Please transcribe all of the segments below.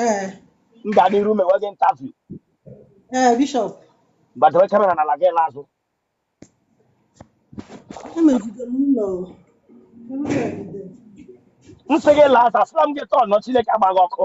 ee m ga n'iru mewe gị interview ee bishọp gbadowe kamera n'ala gị laa azụ emejide m ụlọ emejide m sị gị laa azụ asịla m gị tọọ nọ chineke agba gị ọkụ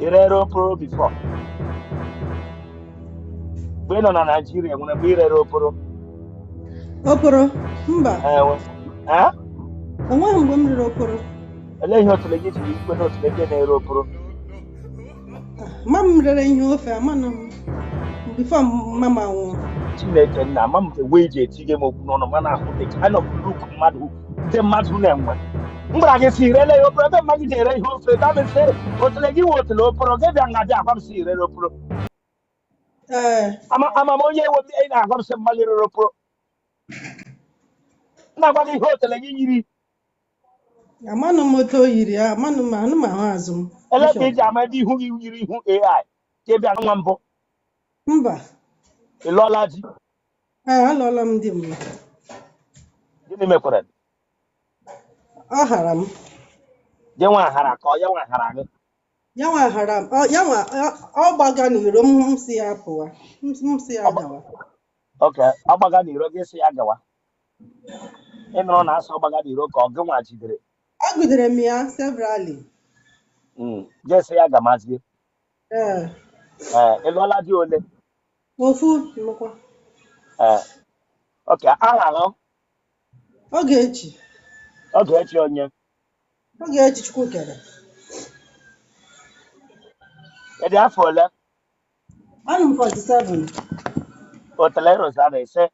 i rere oporo before mgbe ị nọ na naijiria nwere mgbe i rere oporo oporo mba Eh, we- eh? enweghị mgbe m rere oporo olee ihe otule gị jiri ikwe na otule gị na-ere oporo ma m rere ihe ofe amanụ m before mama nwụọ chineke nna ama m ka wee ji etinye m okwu n'ọnụ mana ahụ dị ka anọ m luk mmadụ ndị mmadụ na-enwe m gwara gị si irele ya oporo ebe mama gị ji ere ihe ofe ka m sị otele gị nwe otele oporo gị bịa nga bịa agwa m si i rere oporo ee ama ama m onye ewe m ị na-agwa m sị mama gị rere oporo m na-agwa gị ihe otele gị yiri amanụ m otu o yiri ya amanụ m anụ m ahụ azụ m ele ka bishọp eji ama ebe ihu gị yiri ihu ai ka ị bịa nwa mbụ mba ị lụọla di Ee, alụọla m di mbụ. gịnị mekwara Ọ hara m. gị nwa hara ka ọ ya nwa hara gị Ya nwa hara m. Ọ- Ya nwa ọ- ọ gbaga n'iro m m si ya pụwa. M m si ya Ọ gba- gawa. okay ọ gbaga n'iro gị sị ya gawa ị nụrụ na a sị ọ gbaga n'iro ka ọ gị nwa jidere Ejidere m ya severally. Mm, gị sị ya gamazie Ee, ee ị lụọla di ole Ofu nnukwu. Ee. Okay, aha nọ? Ogechi. Ogechi onye? Ogechi Chukwukere. Ị dị afọ ole? Anọ m 47. Otele Rosana ise.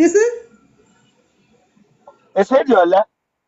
Ị sị? Ị sị ị dị ole?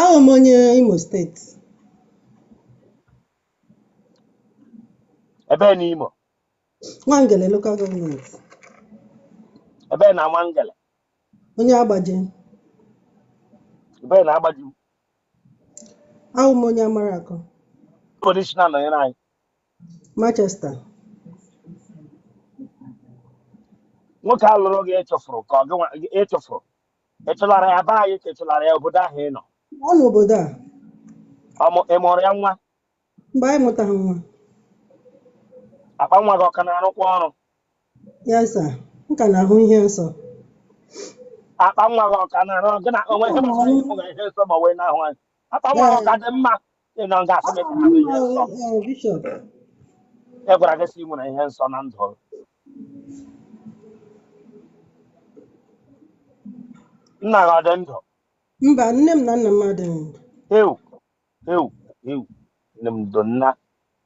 Ahụ m onye Imo steeti. Ebee na Imo? Nwangele local government. Ebee na Nwangele? Onye Agbaja. Ebee na Agbaja? Ahụ m onye amara akọ. Polishina nọnyere anyị. Manchester. Nwoke a lụrụ gị ị chụfụrụ ka ọ gị ị chụfụrụ. Ị chụlara ya be anyị ka ị chụlara ya obodo ahụ ị nọ. ọ n'obodo a Ọ mụ- Ị mụrụ ya nwa, mba anyị amụtaghị nwa akpa nwa gị ọ ka na-arụkwa ọrụ. yes sir m ka na-ahụ ihe nsọ Akpa nwa gị ọ ka na-arụ ọrụ. Gị na onwe ihe gbasara ihe ụlọ ihe nsọ ma wee na-ahụ anyị. Akpa nwa gị ọ ka dị mma. Ị nọ nga asị m ka ha mee ihe nsọ. Ee, bishọp. E gwara gị sị ị nwere ihe nsọ na ndụ gị. Nna gị ọ dị ndụ? Mba, nne m na nna m adịghị ndụ. Ewu, ewu, ewu. Nne m ndo nna,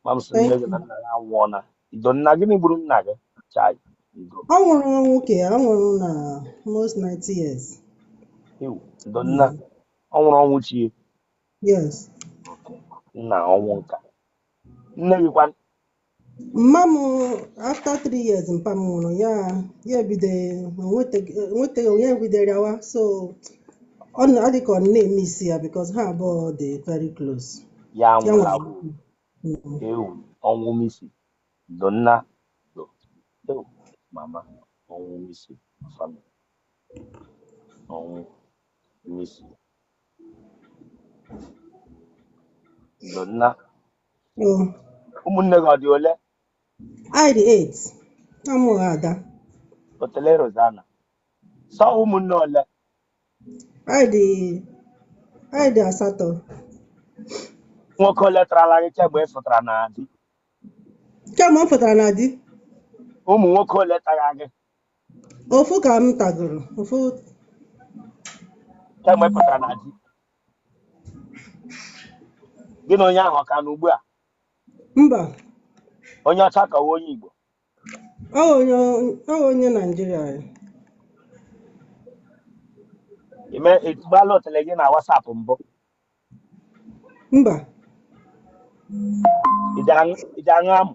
ma m sị nne Thank gị na you. nna gị anwụọla. Ndo nna, gịnị gburu nna gị? Chai, ndo. Ọ nwụrụ ọnwụ nka, ọ nwụrụ na almost 90 years. Ewu, ndo nna, Mm. ọ nwụrụ ọnwụ chi ya. Yes. Nna ọnwụ nka. Nne gị kwa Mma m after three years mpa m nwụrụ ya ya ebido enwetaghị onye bidoro rịawa so ọ na- ọ dị ka ọ na-emiss ya because ha abụọ dị very close. ya Ya nwụrụ nwere agwụ Mm. ewu ọnwụ misi ndo nna ndo ewu mama ọnwụ misi family ọnwụ misi Ndo nna, Oh, ụmụnne gị ọ dị ole? Anyị dị eight. Amụghị ada. Otele Rosanna. Sọ ụmụnne ole? Anyị dị anyị dị asatọ. Nwoke ole tarala gị kemgbe ị fụtara na di? Kemgbe m pụtara na di, Ụmụ nwoke ole tara gị ofu ka m tagoro ofu kemgbe ị pụtara na di gị na onye ahụ ọ ka nọ ugbu a mba onye ọcha ka ọ wụ onye igbo ọ wụ onye ọ wụ onye naijiria ya. ime etugbala otele gị na WhatsApp mbụ mba ị ji aṅụ ị ji aṅụ amụ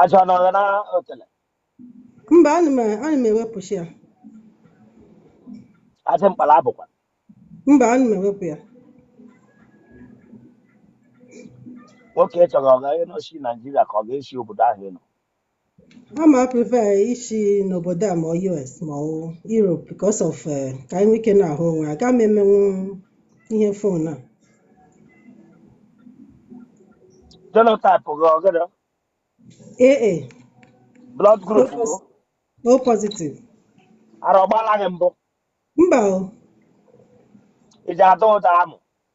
Ajị ọ nọrọ na otele. mba ana m ana m ewepụcha ya Ajị mkpala abụ kwa. mba ana m ewepụ ya Nwoke ị chọrọ ọ ga-esi Naijiria ka ọ ga-esi obodo ahụ ị nọ. Aga m a-prefer ishi n'obodo a ma ọ US ma ọ Europe because of eh, ka anyị nwee ike na-ahụ onwe aga m emenwu ihe fon a Genotype gị ọ gịnị? AA Blood O group gị? pos- O positive Ara ọgbala gị mbụ? mba o Ị ji ada ụda amụ?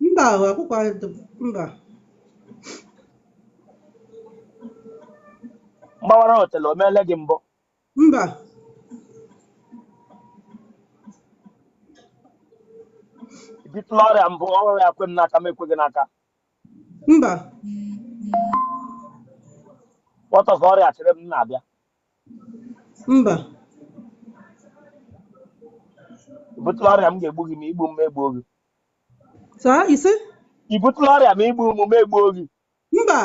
Mba ahụ akwụkwụ mba. Mgbawara otele o meele gị mbụ? Mba. I butụla ọrịa mbụ ọrịa kwe m n'aka m ekwe gị n'aka? Mba. What of ọrịa chere m na-abịa? Mba. I butụla ọrịa m ga-egbu gị ma i gbu m m egbuo gị? saa ise i butụla ọrịa ma i gbu mụ m egbuo gị mba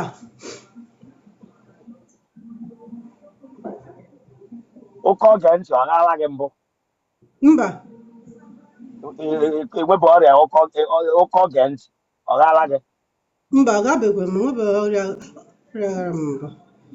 ụkọ oge ntị ọ ghaala gị mbụ mba enwebụ ọrịa ụkọ ụkọ oge ntị ọ ghaala gị mba ọ gabekwe m nwebe ọrịa ọrịa ghara m mbụ